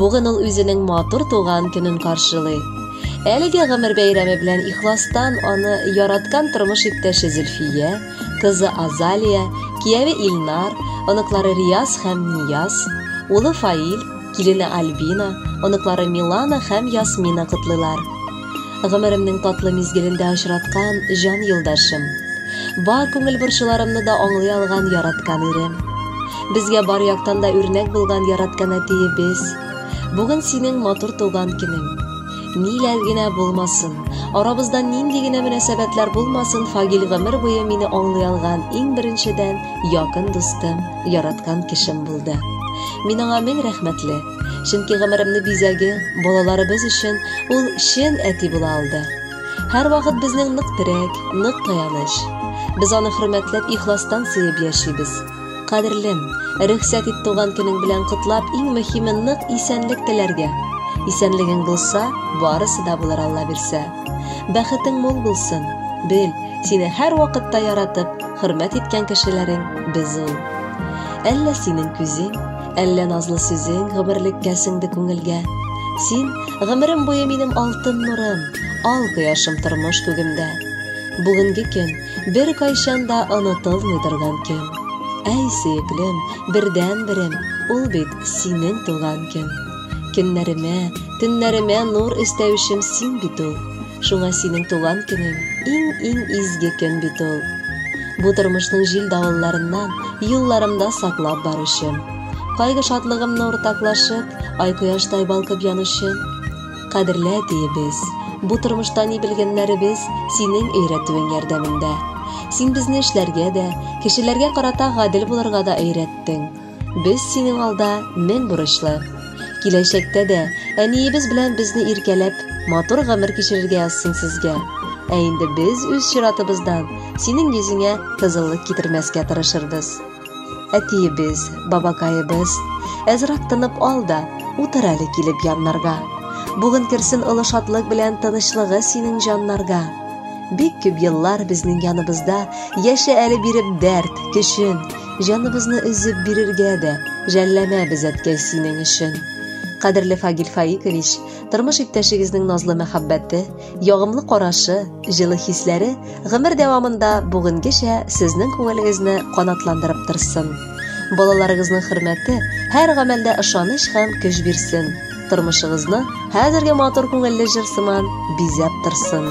Бүген ул үзенең матур туган көнен каршылый. Әлеге гомер бәйрәме белән ихластан аны яраткан тормыш иптәше Зөлфия, кызы Азалия, кияве Илнар, оныклары Рияз һәм Нияз, улы Фаил, килене Альбина, оныклары Милана һәм Ясмина котлыйлар. Гомеремнең татлы мизгелендә очраткан җан юлдашым. Бар күңел борчуларымны да аңлый алган яраткан ирем. Безгә бар яктан да үрнәк булган яраткан әтиебез. Бүген синең матур туган көнең. Ниләр генә булмасын, арабызда нинди генә мөнәсәбәтләр булмасын, Фагил гомер буе мине аңлый алган иң беренчедән якын дустым, яраткан кешем булды. Мин аңа мең рәхмәтле. чөнки гомеремне бизәге балаларыбыз өчен ул чын әти була алды һәрвакыт безнең нык терәк нык таяныч без аны хөрмәтләп ихластан сөеп яшибез кадерлем рөхсәт ит туган көнең белән котлап иң мөһиме нык исәнлек теләргә исәнлегең булса барысы да булыр алла бирсә бәхетең мул булсын бел сине һәрвакытта яратып хөрмәт иткән кешеләрең без ул әллә синең күзең Әллә назлы сүзең гомерлеккә сеңде күңелгә. Син гомерем буе минем алтын нурым, ал кояшым тормыш күгемдә. Бүгенге көн бер кайчан да онытылмый торган көн. Әй, сөеклем, бердән берем, ул бит синең туган көн. Көннәремә, төннәремә нур өстәүчем син бит ул. Шуңа синең туган көнең иң-иң изге көн бит ул. Бу тормышның җил-давылларыннан юлларымда саклап баручым. Кайгы-шатлыгымны уртаклашып, ай кояштай балкып янучым. Кадерле әтиебез, бу тормышта ни белгәннәребез синең өйрәтүең ярдәмендә. Син безне эшләргә дә, кешеләргә карата гадел булырга да өйрәттең. Без синең алда мең бурычлы. Киләчәктә дә әниебез белән безне иркәләп, матур гомер кичерергә язсын сезгә. Ә инде без үз чиратыбыздан синең йөзеңә кызыллык китермәскә тырышырбыз. Әтиебез, бабакаебыз, әзрак тынып ал да, утыр әле килеп яннарга. Бүген керсен олы шатлык белән тынычлыгы синең җаннарга. Бик күп еллар безнең яныбызда яшә әле биреп дәрт, көчен, Җаныбызны өзеп бирергә дә жәлләмәбез, әткәй, синең өчен. Кадерле Фагил Фаикович, тормыш иптәшегезнең назлы мәхәббәте, ягымлы карашы, җылы хисләре гомер дәвамында бүгенгечә сезнең күңелегезне канатландырып торсын. Балаларыгызның хөрмәте һәр гамәлдә ышаныч һәм көч бирсен. Тормышыгызны хәзерге матур күңелле җыр сыман бизәп торсын.